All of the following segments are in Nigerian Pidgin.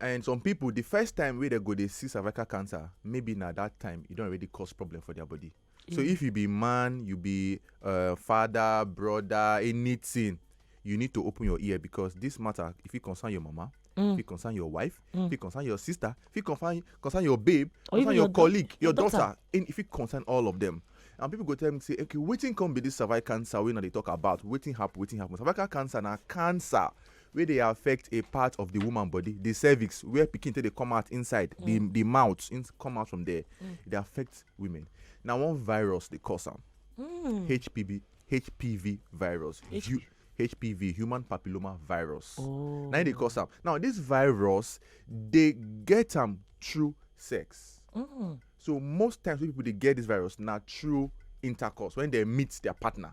and some people the first time wey dem go dey see cervical cancer maybe na that time e don already cause problem for their body so if you be man you be uh, father brother anything you need to open your ear because this matter if it concern your mama mm. if it concern your wife mm. if it concern your sister if it concern, concern your babe or concern your, your colleague your, your daughter, daughter. In, if it concern all of them and people go tell me say okay wetin come be this cervical cancer wey una dey talk about wetin happen wetin happen cervical cancer na cancer wey dey affect a part of the woman body the cervix where pikin take dey come out inside mm. the the mouth in, come out from there mm. e dey affect women na one virus dey cause am mm. hpv hpv virus H- Ju- hpv human papilloma virus oh. na e dey cause am now this virus dey get am through sex mm. so most times wey people dey get this virus na through intercourse when they meet their partner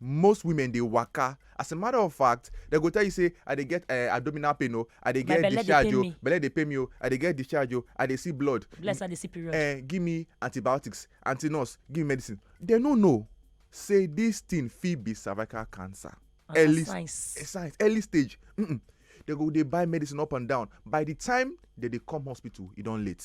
most women dey waka as a matter of fact dem go tell you say i dey get uh, abdominal pain o oh. i dey get discharge o oh. belle dey pain me o oh. i dey get discharge o i dey see blood bless i dey see period uh, give me antibiotics anti nurse give me medicine dem no know say this thing fit be cervical cancer ah, early science. Eh, science early stage mm -mm. they go dey buy medicine up and down by the time they dey come hospital e don late.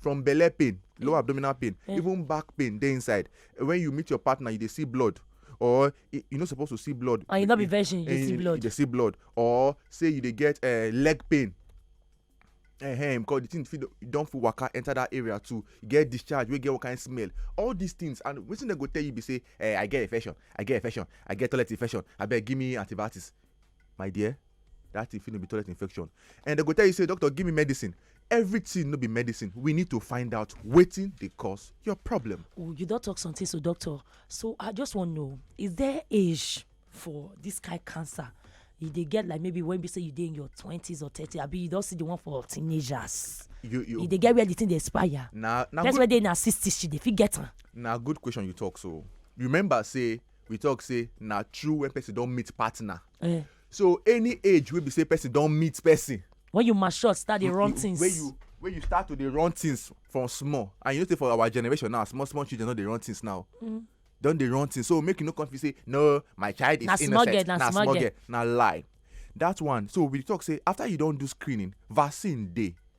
from belle pain low abdominal pain yeah. even back pain dey inside when you meet your partner you dey see blood or you no suppose to see blood and you no be virgin you dey see blood you dey see blood or say you dey get uh, leg pain uh-huh, because the thing fit don fit waka enter that area too you get discharge wey get one kind smell all these things and wetin dem go tell you be say eh, i get infection i get infection i get toilet infection abeg give me antibiotics my dear that thing fit no be toilet infection and dem go tell you say doctor give me medicine everything no be medicine we need to find out wetin dey cause your problem. Oh, you don talk something so doctor so i just wan know is there age for this kind cancer you dey get like maybe when be say you dey in your twenties or thirty abi you don see the one for teenagers you you, you dey get where the thing dey expire na na person wey dey in her sixties she dey fit get am. na good question you talk so remember say we talk say na true when person don meet partner eh. so any age wey be say person don meet person when you mature start dey run things when you when you start to dey run things from small and you know say for our generation now small small children no dey run things now mm. don dey run things so make you no come feel say no my child is na innocent girl, na, na small girl na lie that one so we talk say after you don do screening vaccine dey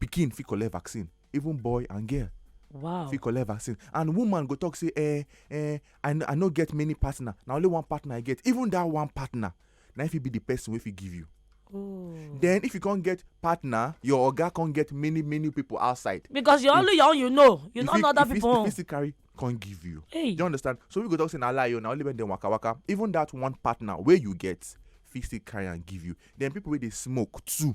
pikin fit collect vaccine even boy and girl wow fit collect vaccine and woman go talk say eh eh i no i no get many partner na only one partner i get even that one partner na if e be the person wey fit give you oh. then if you can't get partner your oga can't get many many people outside because you only your own you know you know other people if you still carry can't give you hey. you understand so we go talk say na lie o oh, na only when dem waka waka even that one partner wey you get fit still carry and give you then people wey dey smoke too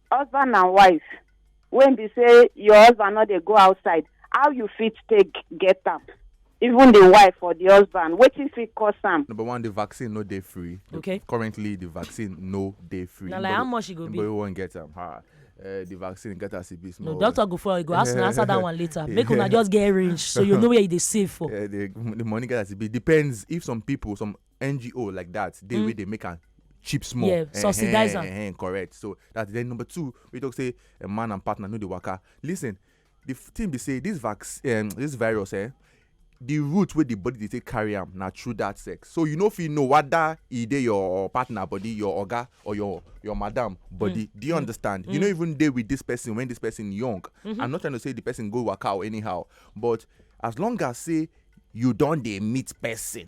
husband and wife when be say your husband no dey go outside how you fit take get am even the wife or the husband wetin fit cause am. number one the vaccine no dey free. okay currently the vaccine no dey free. na like how much e go be. nobody wan get am ha. Uh, the vaccine get as e be small. no doctor go for e go ask una answer that one later make una just get range so you know where you dey save for. Uh, the, the money get as e be depends if some people some ngo like that dey mm. wey dey make am cheap small yeah subsidize am eh, eh, eh, correct so that then number two we talk say a man and partner no dey waka listen the thing be say this vaccine um, this virus eh the route wey the body dey take carry am na through that sex so you no fit know whether e dey your partner body your oga or your your madam body mm. do you mm. understand mm. you no mm. even dey with this person when this person young mm -hmm. i'm not trying to say the person go waka or anyhow but as long as say you don dey meet person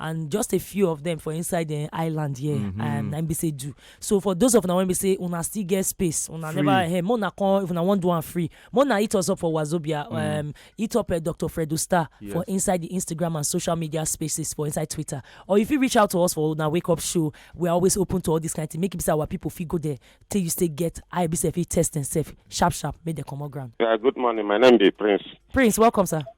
and just a few of them for inside the island here mm -hmm. um, na be say do so for those of una wey be say una still get space una free. never hey, mona come if una wan do am free mona hit us up for wazobia mm. um, hit up uh, dr fredo star yes. for inside the instagram and social media spaces for inside twitter or if you reach out to us for una wake up show we are always open to all this kind of thing make it be say our people fit go there till you stay get eye be say fit test themselves sharp sharp make dem comot ground. Yeah, good morning my name be prince. prince welcome sir.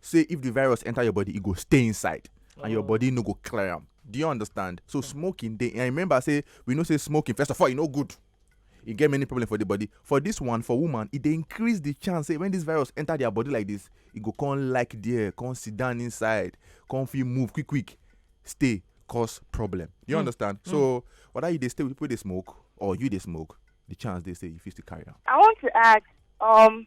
say if the virus enter your body e go stay inside and your oh. body no go clear am do you understand so hmm. smoking dey and remember say we know say smoking first of all e no good e get many problem for the body for this one for woman e dey increase the chance say when this virus enter their body like this e go come like there come sit down inside come fit move quick quick stay cause problem you mm. understand mm. so hmm. whether you dey stay with people dey smoke or you dey smoke the chance dey say you fit still carry am. i want to ask um,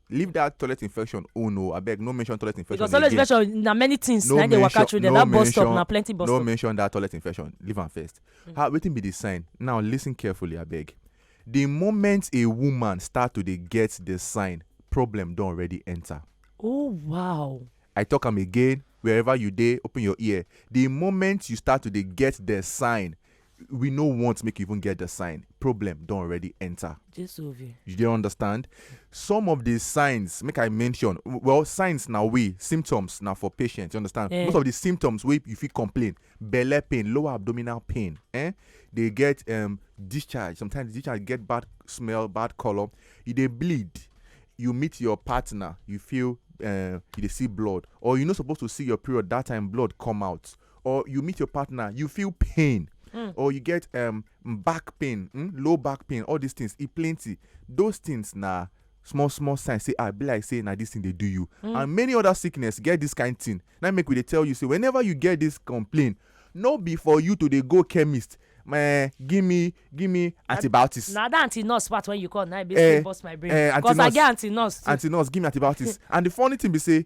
leave that toilet infection oh no abeg no mention toilet infection because toilet infection na many things no na dey waka through there no that bus stop na plenty bus no stop no mention that toilet infection leave am first mm. how wetin be the sign now listen carefully abeg the moment a woman start to dey get the sign problem don already enter. oh wow. i talk am again wherever you dey open your ear the moment you start to dey get the sign we no want make you even get the sign problem don already enter Jesu ovie. you dey understand some of the signs make i mention w- well signs na we symptoms na for patient you understand Eh. most of the symptoms wey you fit complain belle pain lower abdominal pain eh dey get um, discharge sometimes the discharge get bad smell bad colour you dey bleed you meet your partner you feel uh, you dey see blood or you no suppose to see your period that time blood come out or you meet your partner, you feel pain. Mm. Or you get um back pain, mm, low back pain, all these things. It plenty. Those things now small small sign say ah be like say na this thing dey do you mm. and many other sickness get this kind thing na make we dey tell you say whenever you get this complaint no be for you to dey go chemist eh, give me give me antibiotics. na that anti nurse part when you call na e basically eh, burst my brain eh, because i get anti nurse too. anti nurse give me antibiotics and the funny thing be say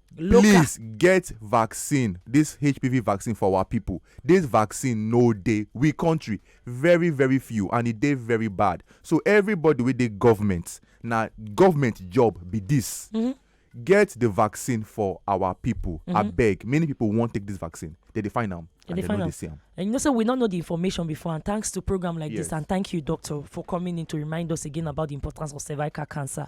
local please get vaccine this hpv vaccine for our people this vaccine no dey we country very very few and e dey very bad so everybody wey dey government na government job be this mm-hmm. get the vaccine for our people mm-hmm. abeg many people wan take this vaccine they dey find am and they, they know they see am and you know say so we no know the information before and thanks to program like yes. this and thank you doctor for coming in to remind us again about the importance of cervical cancer